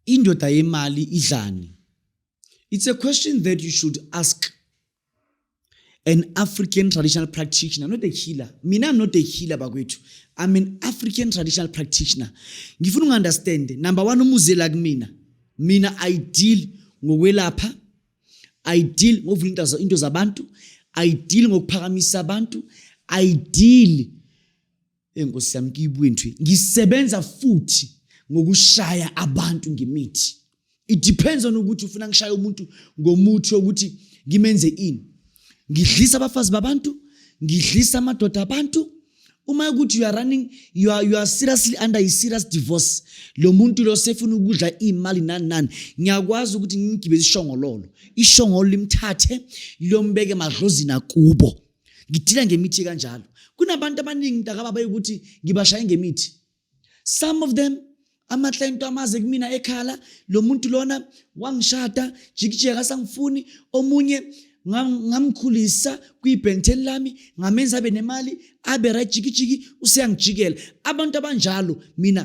indoda yemali idlani it's a question that you should ask an african traditional practitioner not a healer mina i'm not a healer bakwethu i'm an african traditional practitioner ngifuna ungu-understand number one umuzela kumina mina i deal ngokwelapha ayidili ngokuvula into zabantu ayidili ngokuphakamisa abantu ayidili enkosi yami kiyibwintwi ngisebenza futhi ngokushaya abantu ngemithi it depends on ukuthi ufuna ngishaya umuntu ngomuthi wokuthi ngimenze ini ngidlisa abafazi babantu ngidlisa amadoda abantu uma ukuthi you are running you are, you are seriously under a serious divorce lo muntu lo sefuna ukudla imali nani nani ngiyakwazi ukuthi ngigibele ishongololo ishongolo limthathe lombeke madlozini akubo ngidila ngemithi kanjalo kunabantu abaningi mntakababa ukuthi ngibashaye ngemithi some of them amahle into amaze kumina ekhala lo muntu lona wangishada jikijeka sangifuni omunye ngamkhulisa kwibhenteni lami ngamenza abe nemali abe right jikijiki useyangijikela abantu abanjalo mina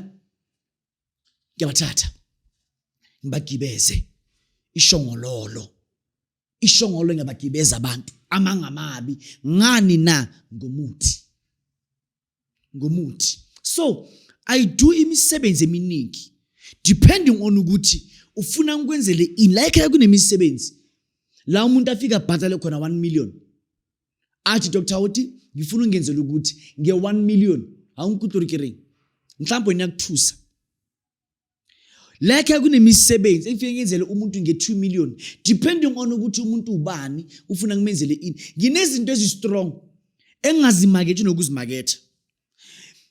ngiyabathatha ngibagibeze ishongololo ishongolo ngiyabagibeza abantu amangamabi ngani na ngomuthi ngomuthi so i do imisebenzi eminingi depending on ukuthi ufuna ngikwenzele ini la ekhaya kunemisebenzi la umuntu afika abhatale khona 1 million athi dr hoti ngifuna ungenzela ukuthi nge-1 million awungikutlorikereng mhlawumbe niyakuthusa Like kunemisebenzi engifike ngenzele umuntu nge-2 million depending on ukuthi umuntu ubani ufuna ngimenzele ini. Nginezinto ezistrong engingazimakethi nokuzimaketha.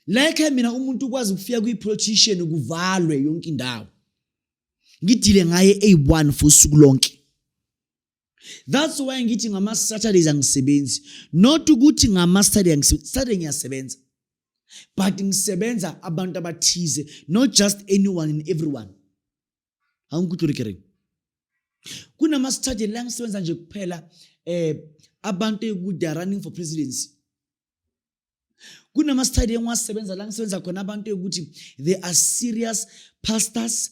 Like mina umuntu ukwazi ukufika kwi-politician kuvalwe yonke indawo. Ngidile ngaye eyi-one for usuku lonke. that's why ngithi ngama-saturdays angisebenzi not ukuthi ngama-saturday angisaturday ngiyasebenza but ngisebenza abantu abathize not just anyone and everyone angikuthi urikering kunama-saturday la ngisebenza nje kuphela um abantu ekude are running for presidency kunama-study engiwasebenza la ngisebenza khona abantu ekuthi they are serious pastors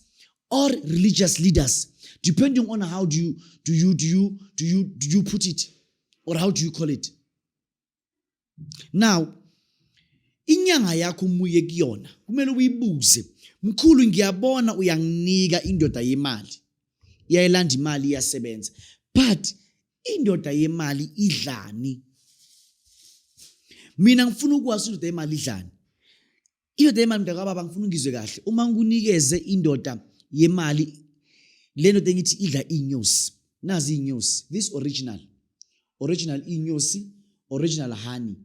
or religious leaders depending on how do you, do you, do you, do you, do you put it or how do you call it now inyanga yakho umuye kuyona kumele uyibuze mkhulu ngiyabona uyanginika indoda yemali iyayilanda imali iyasebenza but indoda yemali idlani mina ngifuna ukwazi indoda yemali idlani indoda yemali mntakababa ngifuna ungizwe kahle uma ngikunikeze indoda yemali le ndoda engithi idla iy'nyosi nazi iy'nyosi this original original iy'nyosi original honey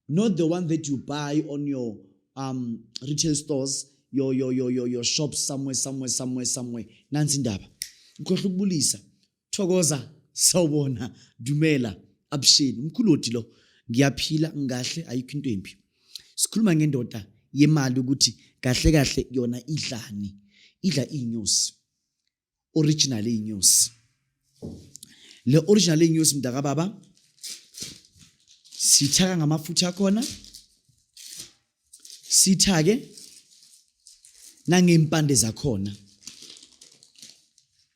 not the one that you buy on your um, retail stores your, your, your, your, your shops somewhere somewhere somewhere somewhere nansi indaba ngikhohle ukubulisa thokoza sawubona dumela abusheni umkhulodi lo ngiyaphila ngahle ayikho into embi sikhuluma ngendoda yemali ukuthi kahle kahle yona idlani idla inyosi original inyosi le original inyosi mntaka baba sithaka ngamafutha khona sithake nangempande zakhona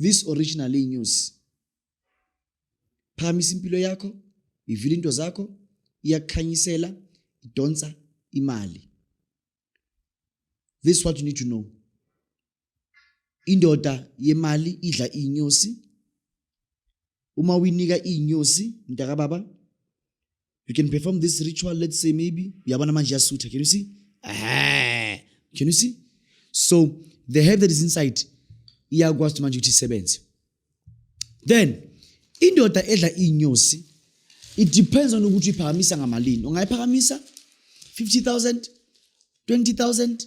this original news phamisa impilo yakho ivile into zakho iyakukhanyisela idonsa imali this what you need to know indoda yemali idla inyosi uma uyinika inyosi mntaka baba you can perform this ritual let's say maybe yabona manje yasutha can you see ah can you see so the herb that is inside iyakwazi ukuthi manje ukuthi isebenze then indoda edla inyosi it depends on ukuthi iphakamisa ngamalini ungayiphakamisa 50000 20000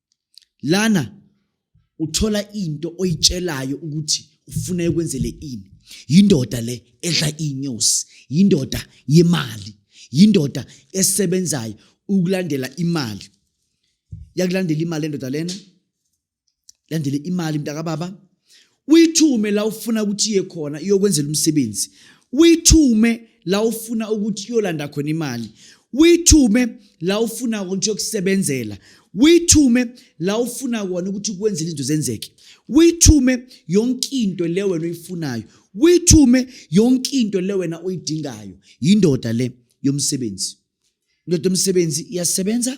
lana uthola into oyitshelayo ukuthi ufuna ekwenzele ini yindoda le edla inyosi yindoda yemali yindoda esebenzayo ukulandela imali yakulandela imali endoda lena landele imali mntakababa Uyithume la ufuna ukuthi iye khona iyokwenzela umsebenzi. Uyithume la ufuna ukuthi iyolanda khona imali. Uyithume la ufuna ukuthi yokusebenzela. Uyithume la ufuna kona ukuthi kwenzele izinto zenzeke. Uyithume yonke into le wena oyifunayo. Uyithume yonke into le wena oyidingayo. Yindoda le yomsebenzi. Indoda yomsebenzi iyasebenza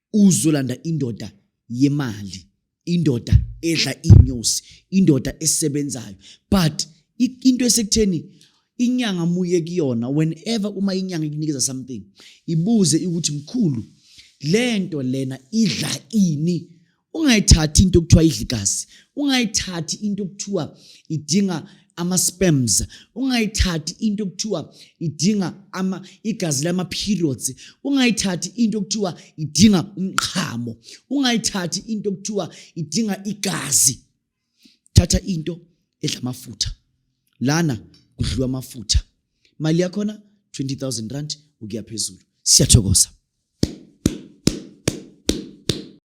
uzolanda indoda yemali indoda edla inyosi indoda esebenzayo but into esekutheni inyanga muye kuyona whenever uma inyanga ikunikeza something ibuze ukuthi mkhulu lento lena idla ini ungayithathi into okuthiwa idla igazi ungayithathi into okuthiwa idinga ama sperms ungayithathi into okuthiwa idinga ama igazi lama periods ungayithathi into okuthiwa idinga umqhamo ungayithathi into okuthiwa idinga igazi thatha into edla amafutha lana kudliwa amafutha mali yakhona 20000 rand ukuya phezulu siyathokoza